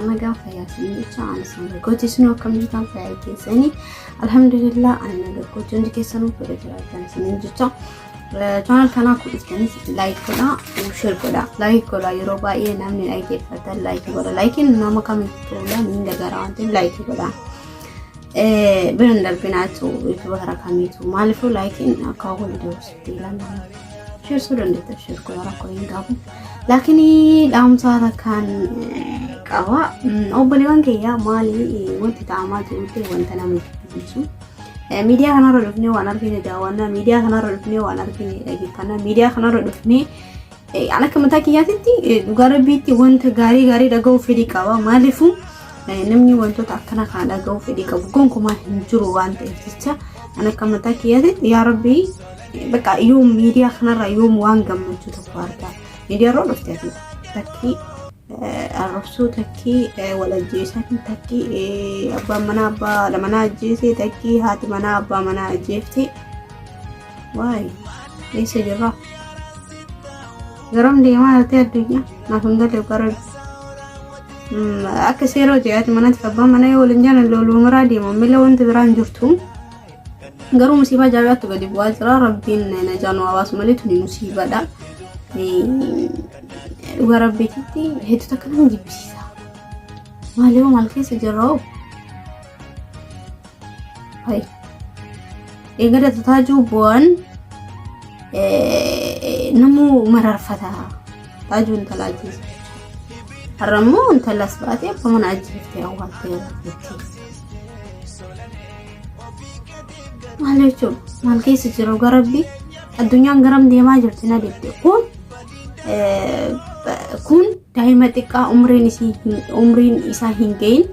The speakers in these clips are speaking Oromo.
Amma gaafa yaasiin jecha ani isaan gargooti isin akkam jirtan fayyaa keessanii alhamdulillah ani na gargooti hundi keessanuu fedha jiraatan isiniin jecha chaanal kanaa kudhistanis laayik godha sheer godha laayik godha yeroo baay'ee namni laayik eeffatan laayik godha laayikiin nama kamitti ta'uudhaan hin dagara waan ta'eef laayik godha. Bira hin darbinaatu yuutuba karaa kamiitu maaliifuu laayikiin akka hawwan ida'u sitti ilaalama. Sheersuu dandeettan sheer godha rakkoo hin qabu. Laakiin dhaamsaa takkaan qaba. Obboleewwan kiyyaa maali wanti ta'amaa jirutti wanta nama jibbisiisu. Miidiyaa kanarra dhufnee waan argine daawwanna. Miidiyaa kanarra dhufnee waan argine dhaggeeffanna. Miidiyaa kanarra dhufnee An akka mataa kiyyaatitti dhugaa rabbiitti wanta gaarii gaarii dhaga'uu fedhii qaba. Maaliifuu namni wantoota akkana kana dhaga'uu fedhii qabu gonkumaa hin jiru waan ta'eef jecha an akka mataa kiyyaatitti yaa rabbii bakka yoo miidiyaa kanarraa yoom waan gammachuu tokko argaa miidiyaarra dhufte ati takkii arrabsuu takkii wal ajjeesan takkii abbaan manaa abbaa manaa ajjeese takkii haati manaa abbaa manaa ajjeefte. Waay, eessa jirra? Garam deemaa jirti addunyaa? Naaf hin galle bara akka seera hoji'aati manatti abbaan mana yoo waliin jiran looluu maraa deema mila wanti biraan jirtu garuu musiibaa jaabaattu gadi bu'aa jira rabbiin najaanu hawaasa malee tuni musiibadha dhugaa rabbiititti hedduu takka nama jibbisiisa maaliif maal keessa jirra hoo Eegada taajuu bu'aan namuu mararfata taajuu intalaa jiru. Har'a immoo intalas baatee akka mana ajjeeftee awwaaltee jettee. Maal jechuun maal keessa jiru garabbi addunyaan garam deemaa jirti na deemte kun kun daa'ima xiqqaa umriin isaa hin gahin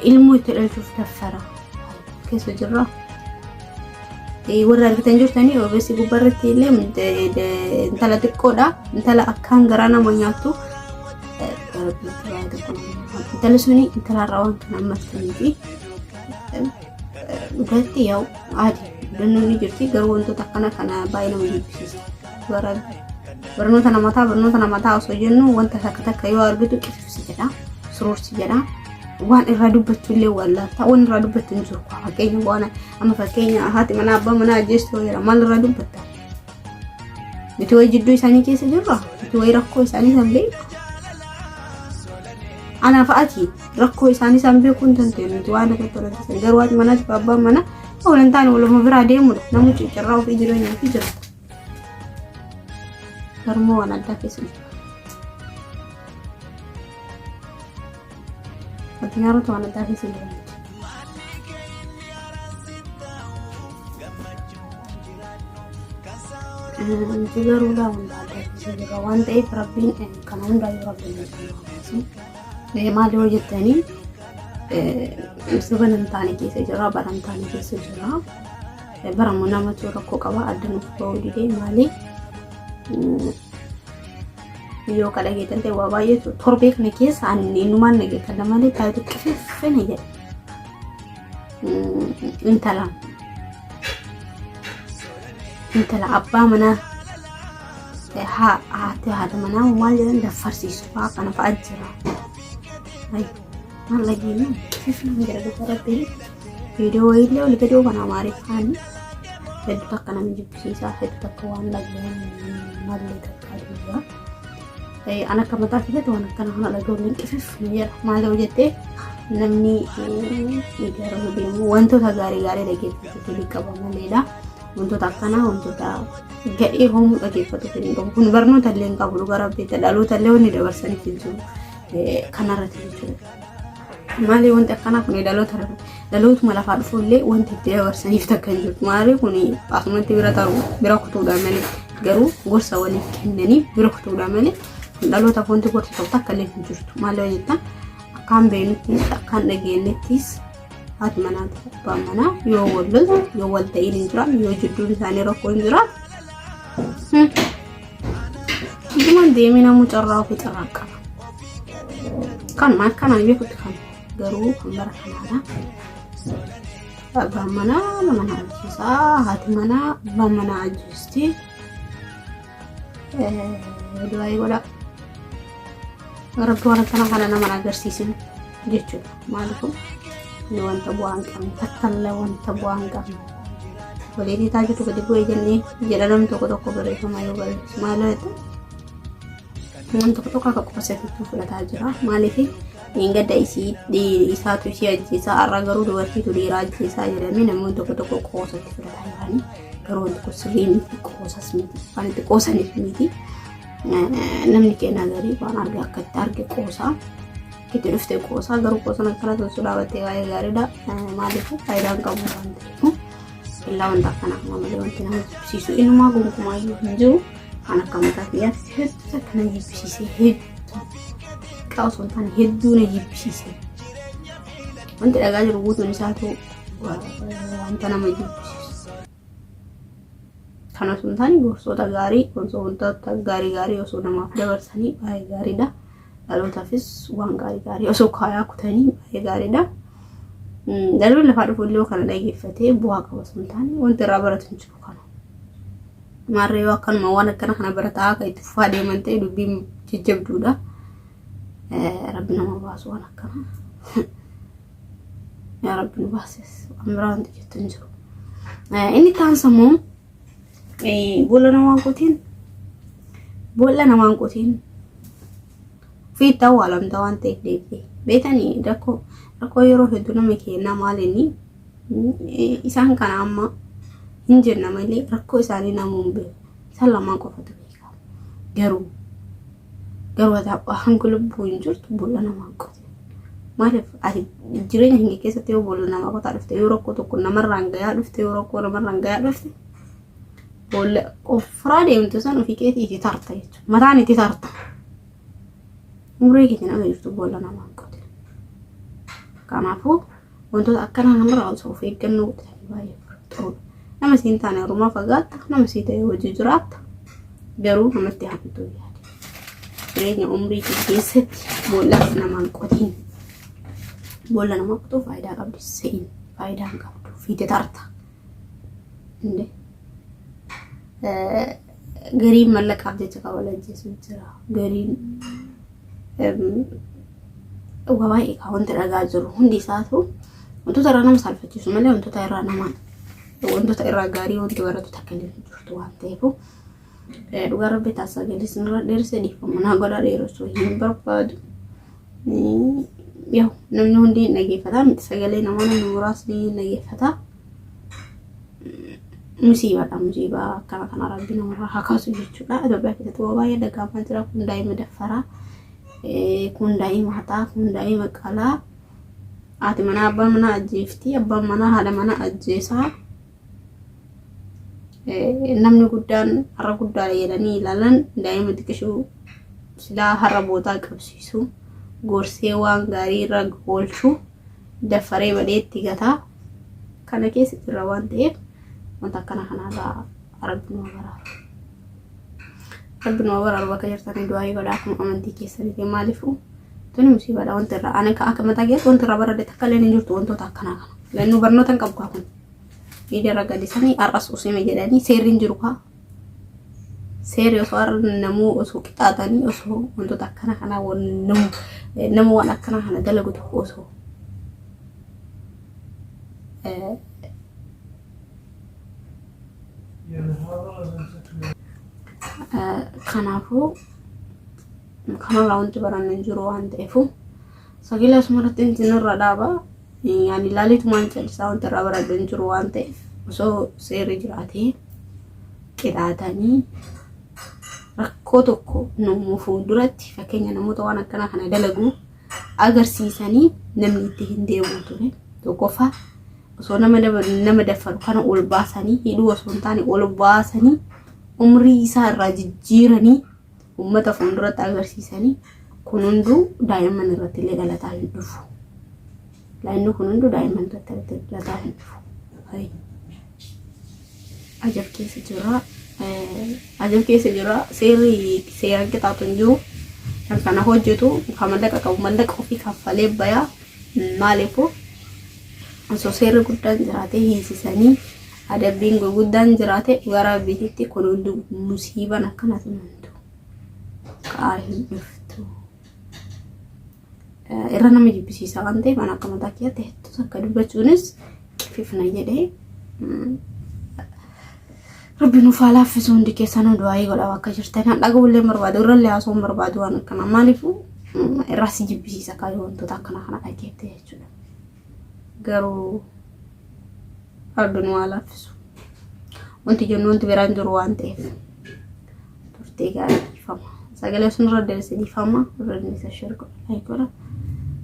ilmoo itti dhalchuuf taffara keessa jirra. Warra argitan jirtanii ogeessi gubbaa irratti illee intala xiqqoodha. Intala akkaan garaa nama nyaattu. Intalli suni intalarraa waan kana ammattanii fi dhugaatti yaa'u aadi dannoon ni jirti garuu wantoota akkana kana baay'ee nama jibbisiisa. Barnoota namataa barnoota namataa osoo jennu wanta takka takka yoo argitu si jedha suruur si jedha waan irraa dubbachuu illee wallaaltaa waan irraa dubbachuu hin jiru kwa fakkeenya waan amma fakkeenya haati manaa abbaa manaa ajjeessu yoo jedha maal irraa dubbatta miti wayii jidduu isaanii keessa jirra miti wayii rakkoo isaanii san beeku anaaf ati rakkoo isaanii san beekuu hin dandeenyu miti waan irratti walaalchisan garuu haati manaatiif abbaan manaa walantaan waluma biraa deemudha namni ciccirraa ofii jireenyaa fi jirta. Garummoo waan addaa keessa jira. Addunyaarratti waan addaa keessa jira. Nuti garuu laa hunda addaa keessa jira waan ta'eef rabbiin kana hundaayyuu rabbiin nuti maal yoo jettanii ibsa banamtaanii keessa jira baramtaanii keessa jira. Barama namatu rakkoo qaba adda nuuf ba'uu didee maali yoo ka dhageetan ta'e waa baay'eetu torbee kana keessa ani innumaan dhageetan malee taatu qififina jedha intala intala abbaa manaa haa haati haadha manaa maal jedhan daffarsiisu fa'aa kana fa'aa jira. Malla diimaa fifnaan jira dhuga rabbiin viidiyoo wayiillee ol gadoo kan amaariffaan heddu takka nama jibbisiisaa heddu takka waan dhaga'an mallee takka duwwaa. An akka mataa keessatti waan akkana kana dhaga'uun qifif na jedha maal ta'u jettee namni ijaaramu deemu wantoota gaarii gaarii dhaggeeffatu fedhii qaba maleedha. Wantoota akkanaa wantoota gadhee hoomuu dhaggeeffatu fedhii qabu kun barnoota illee hin qabu dhuga rabbiitti dhaloota illee wanni dabarsaniif hin jiru. kanarratti jechuudha. Maali wanti akkanaa kun dhaloota dhalootuma lafaa dhufu illee wanti itti dabarsaniif takka hin jiru. Maali kun asumatti bira ta'u bira kutuudha malee garuu gorsa waliif kennaniif bira kutuudha malee dhalootaaf wanti gorsa ta'u takka illee hin jirtu. Maali yoo jettan akkaan beeknutti akkaan dhageenyettis haati manaa fi abbaan manaa yoo wal yoo wal ta'iin hin jiraanne yoo jidduun isaanii rakkoo hin jiraanne Dhugumaan deemee namuu carraa ofii carraa qaba. Kan maal kanaan beekutti kan garuu kan bara kanaadha. Abbaan manaa abbaa manaa ajjeesaa haati manaa abbaa manaa ajjeesti. Du'aa eegoodha. Rabbi waan akkana kana nama agarsiisin jechuudha. maal kun ni wanta bu'aa hin qabne takkalla wanta bu'aa hin qabne walii dhiitaa jirtu gadi bu'ee jennee jedha namni tokko tokko barreeffama yoo barreessu maal jettu namni tokko tokko akka qofa seefituu fudhataa jira maaliif hin gadda isii isaatu ishii ajjeesaa har'a garuu dubartiitu dhiiraa ajjeesaa jedhamee namoonni tokko tokko qoosatti fudhataa jiranii garuu wanti kun sirrii miti qoosas miti waan itti qoosaniif miti namni keenya garii waan arge akka itti arge qoosaa itti dhuftee qoosaa garuu qoosan akkana sun sun dhaabattee baay'ee gaariidha maaliif faayidaan qabu waan ta'eef illaa wanta akkana akkuma malee wanti nama jibbisiisu inumaa gonkumaa iyyuu hin jiru kan akka mataa kiyyaatti hedduu takka na jibbisiisee hedduu xiqqaa osoo hin taane hedduu na jibbisiisee wanti dhagaa jiru guutuun isaa ta'u wanta nama jibbisiisu. Kana osoo hin taane gorsoota gaarii, gorsoota wantoota gaarii gaarii osoo namaaf dabarsanii baay'ee gaariidha. Dhalootaafis waan gaarii gaarii osoo kaayaa kutanii baay'ee gaariidha. Dhalli lafaa dhufu illee kana dhaggeeffatee bu'aa qaba osoo hin taane wanti irraa baratu hin jiru kana. Maarree yoo akkanuma waan akkana kana barataa akka itti fufaa deeman ta'e dubbiin jajjabduudha. Rabbi nama baasu waan akkana. yaa rabbi nu baasis waan biraa wanti jettu hin jiru inni kaan sammuu boolla namaan qotiin boolla namaan qotiin fiitta awwaalamta waan ta'eef deebi'e beetanii rakkoo rakkoo yeroo hedduu nama keenyaa maalinni isaan kana amma hin jenna malee rakkoo isaanii namuun beeku isaan lamaan qofatu beeka garuu Garuu ati abbaa hanga lubbuu hin jirtu boolla namaa hin qotin. Maaliif ati jireenya keenya keessatti yoo boolla namaa qotaa dhufte yoo rakkoo tokko namarraan gayaa dhufte yoo rakkoo namarraan gayaa dhufte boolla ofirraa deemtu san ofii keetii itti tarta jechuudha. Mataan itti tarta. Umurii keenya nama jirtu boolla namaa hin qotin. Kanaafuu Wantoota akkanaa namarraa osoo of eeggannoo godhatanii baay'ee bareedaadha. Nama siin taane harumaa fagaatta, nama sii ta'e wajji jiraatta, garuu namatti hamtuu yaade. Jireenya umrii kee keessatti boolla namaan qotiin. Boolla namaa qotuu faayidaa qabdi se'in faayidaa hin qabdu fiite tarta. Indee. Gariin mallaqaaf jecha kan wal ajjeesu jira. Gariin waa baay'ee kan wanti dhagaa jiru hundi isaatu wantoota irraa nama saalfachiisu malee wantoota irraa nama wantoota irraa gaarii wanti baratu takka illee hin jirtu waan ta'eef dhugaa rabbi taasisaa galiis nurra dheerse dhiifama naa godhaa dheeressuu hin barbaadu. Yoo namni hundi hin dhageeffata miti sagalee namaa namni muraasni hin dhageeffata. Musiibaadha musiibaa akkana kana rabbi namarraa haa kaasu jechuudha. Itoophiyaa keessatti waa baay'ee dhaga'amaa jira kun daa'ima daffaraa kun daa'ima haxaa kun daa'ima qalaa haati manaa abbaa manaa ajjeefti abbaan manaa haadha manaa ajjeesaa. namni guddaan har'a guddaadha jedhanii ilaalan daa'ima xiqqishuu silaa har'a bootaa qabsiisu gorsee waan gaarii irra oolchu daffaree badhee itti gata kana keessa jirra waan ta'eef wanta akkana kanarraa rabbi nu baraaru. Rabbi nu baraaru bakka jirtanii du'aa godha akkuma amantii keessaniif maaliifuu tuni musiibaadha wanta irraa ani akka mataa keessatti wanta irraa baradhe takka illee hin jirtu wantoota akkanaa kana. Lannuu barnoota hin qabu kaa kun. Idara gadisanii ar'as usime jedhanii seerri hin jiru kaa. Seerri osoo arra namuu osoo qixaaxanii osoo wantoota akkana kanaa nama waan akkana kana dalagu tokko osoo kanaafuu kanarraa wanti baranne hin jiru waan ta'eefu sagilaas maratti inti nurra dhaabaa. Ani ilaaleetumaan callisaa wanti irraa baradhu hin jiru waan ta'eef osoo seerri jiraatee qixaatanii rakkoo tokko nuumuu fuulduratti fakkeenya namoota waan akkanaa kana dalaguu agarsiisanii namni itti hin deebi'u ture. Tokkoffaa osoo nama nama daffaru kana ol baasanii hidhuu osoo hin taane ol baasanii umrii isaa irraa jijjiiranii uummata fuulduratti agarsiisanii kun hunduu daa'imman irratti illee dhalataa hin dhufu. Laayinni kun hunduu daa'imman irratti dhalataa hin dhufu. Ajab keessa jira. Ajab keessa jira. Seerri seeraan qixaatu hin jiru. Kan kana hojjetu kan mallaqa qabu mallaqa ofii kaffalee bayaa maaliifuu osoo seerri guddaan jiraatee hiisisanii Adabbiin gurguddaan jiraate dhugaa raabbiititti kun hundi musiiban akkana tunantu ka'aa hin dhuftu. Irra nama jibbisiisaa waan ta'eef an akka mataa kiyyaatti hedduu takka dubbachuunis qififna jedhee rabbi nuuf haa laaffisu hundi keessanuu du'aayii godhaa akka jirtan kan dhaga'u illee barbaadu irra illee haasoo hin barbaadu waan akkanaa maaliifuu irraa si jibbisiisa kaayoo wantoota akkana kana dhageette jechuudha. garuu rabbi nu haa laaffisu wanti jennu wanti biraan jiru waan ta'eef turtii gaarii dhiifama sagalee sun irra deebise dhiifama irra deebise share godha like godha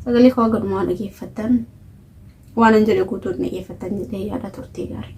sagalee koo gadumaa dhageeffattan waan hin jedhe guutuu dhageeffattan jedhee yaada turtii gaarii.